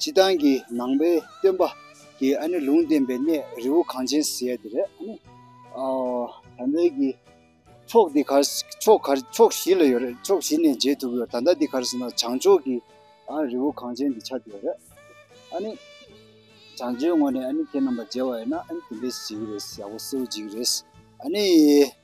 སྤྱི་བཏང་གི་ནང་པའི་སྟོན་པ་གི་ཨ་ནི་ལུང་བསྟན་པའི་གནས་རི་བོ་གངས་ཅན་ཟེར་དེ་རེད་ཨ་ནི། ད་ལྟའི་གི་ཕྱོགས་འདི་གར་ཕྱོགས་གར་ཕྱོགས་བཞི་ལ་ཡོད་རེད་ཕྱོགས་བཞི་ནས་མཇལ་ཐུབ་ཡོད་ད་ལྟ་འདི་གར་ཟེར་ན་བྱང་ཕྱོགས་གི་ཨ་རི་བོ་གངས་ཅན་དེ་ཆགས་ཀྱི་ཡོད་རེད་ཨ་ནི། བྱང་ཕྱོགས་ངོས་ནས་ཨ་ནི་ཁྱེད་རྣམ་པ་མཇལ་བ་ཡིན་ན་ཨ་ནི་དེ་འདྲའི་གཟིགས་རེད་ཡག་པོ་གསལ་བོ་འཇིགས་རེད་ཨ་ནི།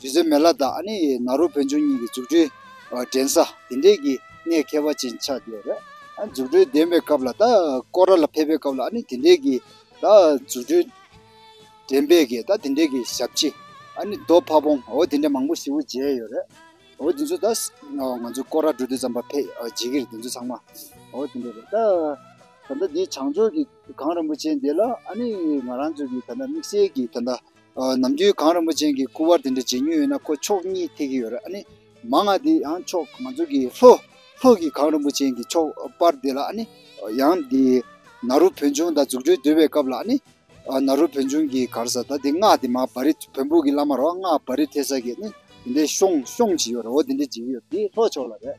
དུས་ཚོད་མེད་ལ་དྭགས་ནི་ནཱ་རོ་བོན་ཆུང་གཉིས་ཀྱི་འཛུགས་སྐྲུན་འགྲན་ས་དེ་འདྲས་ཀྱི་གནས་མཁས་པ་ཅན་ཆགས་བསྡད་རེད། འཛུགས་སྐྲུན་འདེམས་པའི་སྐབས་ལ་དྭགས་ཀོ་ར་ལ་ཕེབས་པའི་སྐབས་ལ་ནི་དེ་འདྲས་ཀྱི་དྭགས་འཛུགས་སྐྲུན་འགྲན་པས་ཀྱི་དྭགས་དེ་འདྲས་ཀྱི་ཞབས་ཕྱི། རྡོ་ཕ་བོང་འོ་དེ་འདྲས་མང་པོ་ཞིག་བུ་བརྗེས་ཡོད་རེད། འོ་དེ་ཚོ་དྭགས་ང་ཚོ་ཀོ་ར་འགྲོ་དུས་ཙམ་པ་ཕེ་རྗེས་ཀྱི་རེད་དེ་ཚོ་ཚང་མ་འོ་དེ་འདྲས་རེད། ད་ལྟ་འདི་བྱང་ཕྱོགས་ཀྱི་གངས་རིན་པོ་ཆེ་འདི་ལ་ནི་ང་རང་ཚོ་གི་ད་ལྟ་དམིགས་བསལ་གྱི་ད་ལྟ་ནམ་རྒྱུན་གངས་རིན་པོ་ཅན་གྱི་སྐུ་དབར་དེ་འདྲ་བརྗེ་མྱོང་ཡོད་ན་ཁོ་ཕྱོགས་གཉིས་ཐེག་གི་ཡོད་རེད་ཨ་ནི། མ་ང་དེ་ཡང་ཕྱོགས་ང་ཚོ་གི་ལྷོ། ལྷོ་གི་གངས་རིན་པོ་ཅན་གྱི་ཕྱོགས་དཔར་དེ་ལ་ཨ་ནི། ཡང་དེ། ན་རོ་བོན་ཆུང་ད་རྫུ་འཕྲུལ་སྡོད་པའི་སྐབས་ལ་ཨ་ནི། ན་རོ་བོན་ཆུང་གི་གར་ས་ད་དེ་སྔགས་དེ་མ་བ་རི་བོན་པོ་གི་བླ་མ་རོ་སྔགས་བ་རི་ཐེ་ས་གི་ཨ་ནི། དེ་འདྲའི་ཤོང་ཤོང་བྱས་ཡོད་རེད་འོ་དེ་འདྲ་བརྗེ་གི་ཡོད་དེ་ལྷོ་ཕྱོགས་ལ་རེད།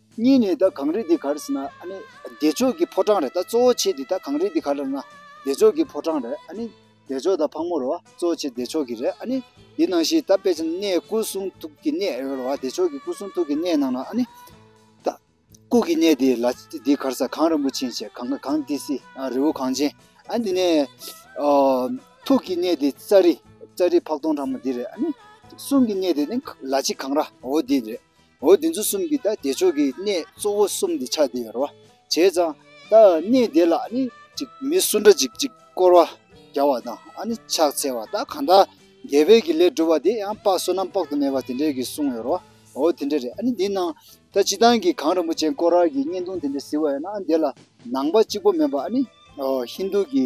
གཉིས་ནས་ད་གངས་རི་འདི་གར་ཟེར་ན་ཨ་ནི་བདེ་མཆོག་གི་ཕོ་བྲང་རེད་ད་གཙོ་བོ་ཆེ་འདི་ད་གངས་རི་འདི་གར་ལབ་ན་བདེ་མཆོག་གི་ཕོ་བྲང་རེད་ཨ་ནི་བདེ་མཆོག་ད་ཕག་མོ་རེད་བ་གཙོ་བོ་ཆེ་བདེ་མཆོག་གི་རེད་ཨ་ནི་འདི་ནང་བཞིན་ད་དཔེ་ཆ་ནས་སྐུ་གསུང་ཐུགས་ཀྱི་གནས་རེད་བ་བདེ་མཆོག་གི་སྐུ་གསུང་ཐུགས་ཀྱི་གནས་ནང་ན་ཨ་ནི་ད་སྐུ་གི་གནས་འདི་ལ་འདི་གར་ས་གངས་རིན་པོ་ཆེན་བྱས་གངས་གངས་ཏི་སི་ཨ་རི་བོ་གངས་ཅན་ཨ་འདི་ནས་ཐུགས་ཀྱི་གནས་འདི་རྩ་རི་རྩ་རི་ཕག་སྟོང་ཕྲ་མོ་འདི་རེད་ཨ་ནི་གསུང་གི་གནས་འདི་ནི་ལ་ཆེ་གངས་ར་བོ་འདི་རེད་འོ་འདི་ཚོ་གསུམ་གྱིས་ད་བདེ་མཆོག་གི་གནས་གཙོ་བོ་གསུམ་དེ་ཆགས་བསྡད་ཡོད་རེད་བ། བྱས་ཙང་ད་གནས་དེ་ལ་ནི་ཅིག་མི་སུ་འདྲ་ཅིག་ཅིག་བསྐོར་བ་རྒྱག་བ་དང་ཨ་ནི་ཕྱག་འཚལ་བ་ད་གང་དག་རྒྱལ་བོད་ཀྱི་ལས་སྒྲུབ་པ་དེ་ཡང་དཔག་བསོད་ནམས་དཔག་ཏུ་མེད་པ་དེ་འདྲས་ཀྱིས་གསུངས་ཡོད་རེད་བ། འོ་དེ་འདྲས་རེད་ཨ་ནི་འདི་ནང་ད་སྤྱི་བཏང་གི་གངས་རིན་པོ་ཆེ་བསྐོར་རག་གི་བརྙན་ཐུང་དེ་འདྲས་གཟིགས་བ་ཡོད་ན་ཨ་ནི་དེ་ལ་ནང་པ་གཅིག་པོ་མེད་པ་ཨ་ནི་ཧིན་རྡུ་གྱི་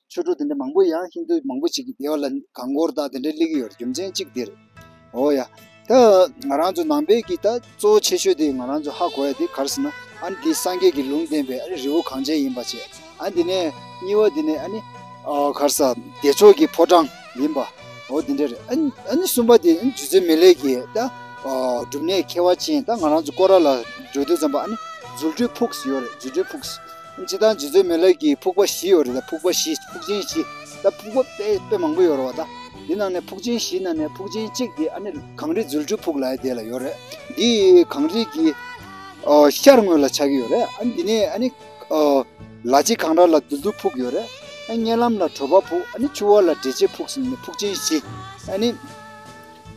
ཆོས་གྲོགས་དེ་འདྲ་མང་པོ་ཡང་ཧིན་རྡུ་མང་པོ་ཞིག་གི་སྡེ་བ་ལ་གང་བསྐོར་དང་དེ་འདྲ་གླེང་གི་ཡོད་རེད་རྒྱུ་མཚན་གཅིག་དེ་རེད། འོ་ཡ། ད་ང་རང་ཚོ་ནང་པའི་གི་ད་གཙོ་བོ་ཆེ་ཤོས་དེ་ང་རང་ཚོ་ཧ་གོ་ཡ་དེ་གར་ཟེར་ན་ཨ་ནི་དེ་སངས་རྒྱས་ཀྱི་ལུང་བསྟན་པའི་ཨ་ནི་རི་བོ་གངས་ཅན་ཡིན་པ་བྱས། ཨ་ནི་དེ་ནས་གཉིས་བ་དེ་ནས་ཨ་ནི། གར་ས། བདེ་མཆོག་གི་ཕོ་བྲང་ཡིན་པ། འོ་དེ་འདྲ་རེད། ཨ་ནི་ཨ་ནི་གསུམ་པ་དེ་ཨ་ནི་ཇུ་ཆེན་མེ་ལེ་ཀྱི་ད། སྒྲུབ་གནས་མཁས་བ་ཅན་ད་ང་རང་ཚོ་བསྐོར་ར་ལ་འགྲོ་དུས་ཙམ་པ་ཨ་ནི་རྫུ་འཕྲུལ་ཕུགས་ཡོད་རེད་རྫུ་འཕྲུལ་ཕུགས། སྤྱི་དང་སྤྱི་ཚོད་མེད་ལས་ཀྱི་ཕུག་པ་བཞི་ཡོད་རེད་ཕུག་པ་བཞི་ཕུག་ཆེན་བཞི་ད་ཕུག་པ་དཔེ་དཔེ་མང་པོ་ཡོད་རེད་བ་ད་དེ་ནང་ནས་ཕུག་ཆེན་བཞི་ནང་ནས་ཕུག་ཆེན་གཅིག་དེ་ཨ་ནི་གངས་རི་རྫུལ་ཆུ་ཕུག་ལའི་དེ་ལ་ཡོད་རེད་འདི་གངས་རི་གི་ཤར་ངོས་ལ་ཆགས་ཀྱི་ཡོད་རེད་ཨ་ནི་འདི་ནས་ཨ་ནི་ལ་གཅིག་གངས་ར་ལ་རྫུལ་ཆུ་ཕུག་ཡོད་རེད་ཨ་ནི་བརྙན་ལམ་ལ་བྲོ་པ་ཕུག་ཨ་ནི་ཆུ་བོ་ལ་འབྲས་ཕྱེ་ཕུག་གསུམ་ནི་ཕུག་ཆེན་བཞི་ཨ་ནི།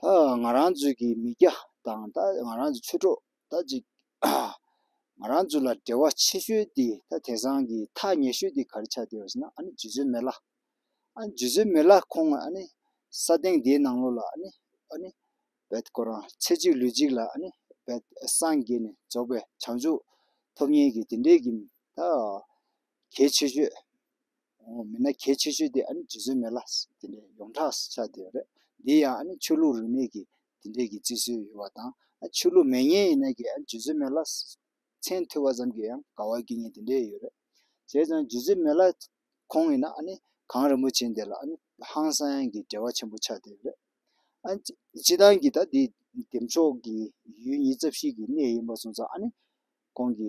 ད་ང་རང་ཚོའི་གི་མི་སྐྱ་དང་ད་ང་རང་ཚོའི་ཆོས་གྲོགས་ད་ཅིག་ང་རང་ཚོ་ལ་འབྲེལ་བ་ཆེ་ཤོས་དེ་ད་དེ་སང་གི་ཐག་ཉེ་ཤོས་དེ་ག་རེ་ཆགས་བསྡད་པ་ཟེར་ན་ཨ་ནི་རྗེ་བཙུན་མེ་ལྷ། ཨ་ནི་རྗེ་བཙུན་མེ་ལྷ་ཁོང་ཨ་ནི་ས་སྟེང་དེའི་ནང་ལོགས་ལ་ཨ་ནི་ཨ་ནི་བད་ཁོ་རང་ཚེ་གཅིག་ལུས་གཅིག་ལ་ཨ་ནི་བད་སངས་རྒྱས་ནས་རྫོགས་པའི་བྱང་ཆུབ་ཐོབ་ཉེན་གི་དེ་འདྲའི་གི་ད་གལ་ཆེ་ཤོས། མིན་ན་གལ་ཆེ་ཤོས་དེ་ཨ་ནི་རྗེ་བཙུན་མེ་ལ་དེ་འདྲའི་ཡོངས་གྲགས་སུ་ཆགས་བསྡད་པ་རེད། འདིའི་ཡང་ཨ་ནི་ཆོས་ལུགས་རིས་མེད་ཀྱི་དེ་འདྲའི་གི་བརྩི་སྲོལ་ཡོད་པ་དང། ཆོས་ལུགས་མེད་ངེས་ཡིན་ན་གི་ཨ་ནི་རྗེ་བཙུན་མེ་ལ་མཚན་ཐོས་པ་ཙམ་གྱིས་ཡང་དགའ་བ་སྐྱེ་ངེས་དེ་འདྲའི་ཡོད་རེད། བྱས་ཙང་རྗེ་བཙུན་མེ་ལ་ཁོང་ཡིན་ན་ཨ་ནི་གངས་རིན་པོ་ཆེ་འདི་ལ་ཨ་ནི་ཧང་སངས་ཀྱི་འབྲེལ་བ་ཆེན་པོ་ཆགས་བསྡད་པ་རེད། ཨ་ནི་སྤྱི་བཏང་གི་ད་འདི་འདེམས་ཕྱོགས་ཀྱི་ཡུལ་ཉིད་རྩ་བཤིག་གི་གནས་ཡིན་པ་སོང་ཙང་ཨ་ནི་ཁོང་གི་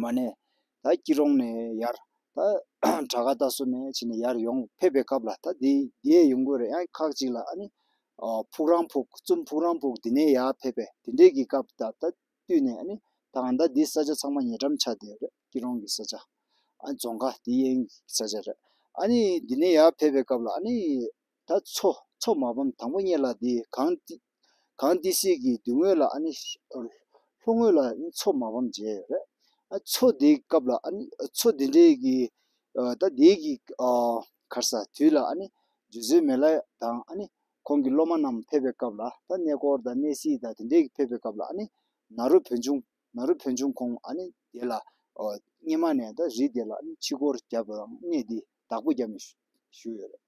མ་ནས། ད་སྐྱིད་རོང་ནས་ཡར། ད་བྲག་དཀར་རྟ་སོ་ནས་ཕྱིན་ནས་ཡར་ཡོང་ཕེབས་པའི་སྐབས་ལ་ད་དེ་འདིའི་ཡོང་དགོས་རེད་ཨང་ཁག་ཅིག་ལ་ཨ་ནི། ཕུག་རང་ཕུག་བཙུན་ཕུག་རང་ཕུག་འདི་ནས་ཡར་ཕེབས་པས་དེ་འདྲས་ཀྱི་སྐབས་ད་ད་བསྟུད་ནས་ཨ་ནི། ད་ང་ད་འདི་ས་ཆ་ཚང་མ་ཉེ་འགྲམ་ཆགས་བསྡད་རེད་སྐྱིད་རོང་གི་ས་ཆ། ཨ་ནི་རྫོང་ཁ་འདི་གཡེང་གི་ས་ཆ་རེད་ཨ་ནི། འདི་ནས་ཡར་ཕེབས་པའི་སྐབས་ལ་ཨ་ནི། ད་འཚོ་འཚོ་མ་བམ་དང་པོ་གཉེར་ལ་འདི་གང་གང་འདི་སྲིད་ཀྱི་མདུན་ངོས་ལ་ཨཱ་ནི། ལྷོ་ངོས་ལ་མཚོ་མ་བམ་བྱས། མཚོ་འདིའི་སྐབས་ལ་ཨཱ་ནི། མཚོ་འདི་འདྲའི་གི། ད་འདིའི་གི། གར་ས་དུས་ལ་ཨཱ་ནི། རྗེ་བཙུན་མེ་ལ་དང་ཨཱ་ནི། ཁོང་གི་སློབ་མ་རྣམས་ཕེབས་པའི་སྐབས་ལ་ད་གནས་སྐོར་དང་གནས་སྲིད་དང་དེ་འདྲའི་གི་ཕེབས་པའི་སྐབས་ལ་ཨཱ་ནི། ནཱ་རོ་བོན་ཆུང། ནཱ་རོ་བོན་ཆུང་ཁོང་ཨཱ་ནི་དེ་ལ། སྙེ་མ་ནས་ད་རི་དེ་ལ་ཨཱ་ནི་ཕྱི་སྐོར་བརྒྱབ་པའམ་གནས་འདི་བདག་པོ་བརྒྱབ་ནས་བཞུགས་ཡོད་རེད།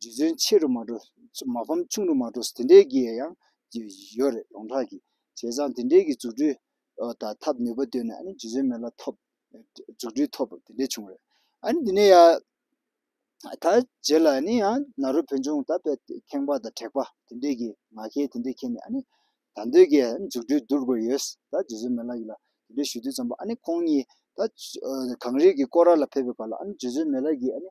རྗེ་བཙུན་ཆེ་རུ་མ་འགྲོ་མ་ཕམ་ཆུང་རུ་མ་འགྲོ་དེ་འདྲའི་གི་ཡང་ཡོད་རེད་ཡོངས་གྲགས་ཀྱི་བྱས་ཙང་དེ་འདྲའི་གི་འཛུགས་སྐྲུན་དང་ཐབས་ནུས་པ་བཏོན་ནས་ཨ་ནི་རྗེ་བཙུན་མེ་ལ་ཐོབ་འཛུགས་སྐྲུན་ཐོབ་དེ་འདྲའི་བྱུང་རེད་ཨ་ནི་དེ་ནས་ཡང་ད་རྗེས་ལ་ཨ་ནི་ཡང་ནཱ་རོ་བོན་ཆུང་ད་པའི་ཁེངས་པ་དང་དྲེགས་པ་དེ་འདྲའི་གི་ང་ཁའི་དེ་འདྲའི་ཁེངས་ནས་ཨ་ནི་ད་འདོད་གི་འཛུགས་སྐྲུན་བསྡུར་དགོས་ཡོད་ད་རྗེ་བཙུན་མེ་ལ་ཡིད་ལ་དེ་འདྲའི་ཞུ་དུས་ཙམ་པོ་ཨ་ནི་ཁོང་གཉིས་ད་གངས་རིའི་གི་སྐོར་ར་ལ་ཕེབས་པའི་བར་ལ་ཨ་ནི་རྗེ་བཙུན་མེ་ལ་ཡིས་ཨ་ནི།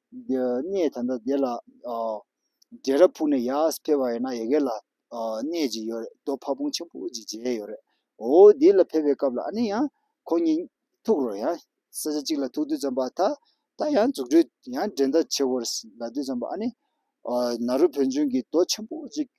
གནས་ད་ལྟ་དེ་ལ་རྒྱལ་རབས་ཕུག་ནས་ཡར་ཕེབས་པ་ཡིན་ན་ཡི་གེ་ལ་གནས་ཅིག་ཡོད་རེད་རྡོ་ཕ་བོང་ཆེན་པོ་ཅིག་བརྗེས་ཡོད་རེད་འོ་དེ་ལ་ཕེབས་པའི་སྐབས་ལ་ཨ་ནི་ཡང་ཁོང་གཉིས་ཐུག་རོགས་ཡང་ས་ཆ་གཅིག་ལ་ཐུག་དུས་ཙམ་པ་ད་ད་ཡང་འཛུགས་སྐྲུན་ཡང་འགྲན་ཟླ་ཆེ་བོར་ལ་དུས་ཙམ་པ་ཨ་ནི་ན་རོ་བོན་ཆུང་གིས་རྡོ་ཆེན་པོ་ཅིག་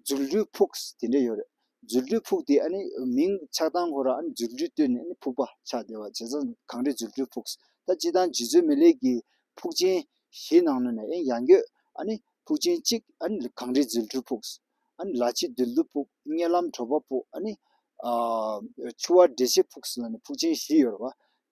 རྫུ་འཕྲུལ་ཕུགས་དེ་འདྲ་ཡོད་རེད། རྫུ་འཕྲུལ་ཕུགས་དེ་ཨ་ནི་མིང་ཆགས་སྟངས་ཁོ་ར་ཨ་ནི་རྫུ་འཕྲུལ་བཏོན་ནས་ཨ་ནི་ཕུགས་པ་ཆགས་བསྡད་པ་བྱས་ཙང་གང་རེད་རྫུ་འཕྲུལ་ཕུགས་ད་སྤྱི་དང་རྗེ་བཙུན་མི་ལེགས་ཀྱི་ཕུགས་ཆེན་ཞེས་ནང་ནོན་ནས་ཨེ་ཡང་ཡོད་ཨ་ནི་ཕུགས་ཆེན་གཅིག་ཨ་ནི་གང་རེད་རྫུ་འཕྲུལ་ཕུགས་ཨ་ནི་ལ་ཆེ་རྡུལ་བདུག་ཕུགས་སྙེ་ལམ་གྲོ་པ་ཕུགས་ཨ་ནི། ཆུ་བ་འདྲེ་ཆེ་ཕུགས་ལ་ནི་ཕུགས་ཆེན་བཞི་ཡོད་རེད་བ།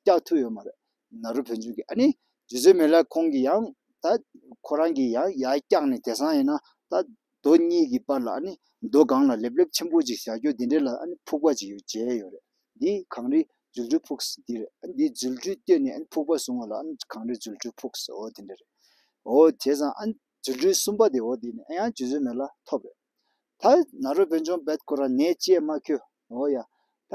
སྐྱག་ཐུག་ཡོད་མ་རེད་ནཱ་རོ་བོན་ཆོས་ཀྱི་ཨ་ནི་རྗེ་བཙུན་མེ་ལ་ཁོང་གི་ཡང་ད་ཁོ་རང་གི་ཡང་ཡ་སྐྱག་ནི་དེ་སང་ཡིན་ན་ད་རྡོ་གཉིས་ཀྱི་པར་ལ་ཨ་ནི་རྡོ་སྒང་ལ་ལེབ་ལེབ་ཆེན་པོ་ཅིག་བཞག་རྒྱུ་དེ་འདྲེ་ལ་ཨ་ནི་ཕུག་པ་ཅིག་ཡོད་བྱས་ཡོད་རེད་འདི་གངས་རི་རྫུ་འཕྲུལ་ཕུགས་ས་འདི་རེད་འདི་རྫུ་འཕྲུལ་བསྟོད་ནས་ཨ་ནི་ཕུག་པ་བཟུང་བ་ལ་ཨ་ནི་གངས་རི་རྫུ་འཕྲུལ་ཕུགས་ས་འོ་དེ་འདྲེ་རེད་འོ་དེ་སང་ཨ་ནི་རྫུ་འཕྲུལ་གསུམ་པ་དེ་འོ་དེ་ནི་ཨ་ཡང་རྗེ་བཙུན་མེ་ལ་ཐོབ་རེད་ད་ནཱ་རོ་བོན་ཆོང་བེད་ཁོ་རང་ནད་ཅེས་མ་ཁྱོད་འོ་ཡ་ད་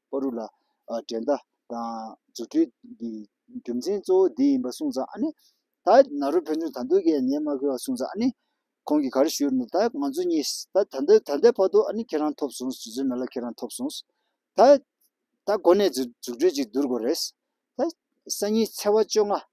པོ་རུ་ལ། འགྲན་ཟླ་དང་རྫུ་འཕྲུལ་གྱི་རྒྱུ་མཚན་གཙོ་བོ་འདི་ཡིན་པ་གསུངས་ཙང་ཨ་ནི། ད་ན་རུ་ཕན་ཚུན་ད་འདོད་ཀྱི་ཉན་མ་ཁུལ་བ་གསུངས་ཙང་ཨ་ནི། ཁོང་གིས་ག་རེ་ཞུས་རུང་ད་ང་ཚོ་གཉིས་ད་ད་འདོད་ད་ལྟའི་བར་དུ་ཨ་ནི་ཁྱེད་རང་ཐོབ་སོང་རྫུན་མེད་ལ་ཁྱེད་རང་ཐོབ་སོང། ད་ད་གོ་ནས་རྫུ་འཕྲུལ་གྱིས་བསྡུར་དགོས་རེད། ད་སང་ཉིན་ཚེ་བ་བཅོ་ལྔ།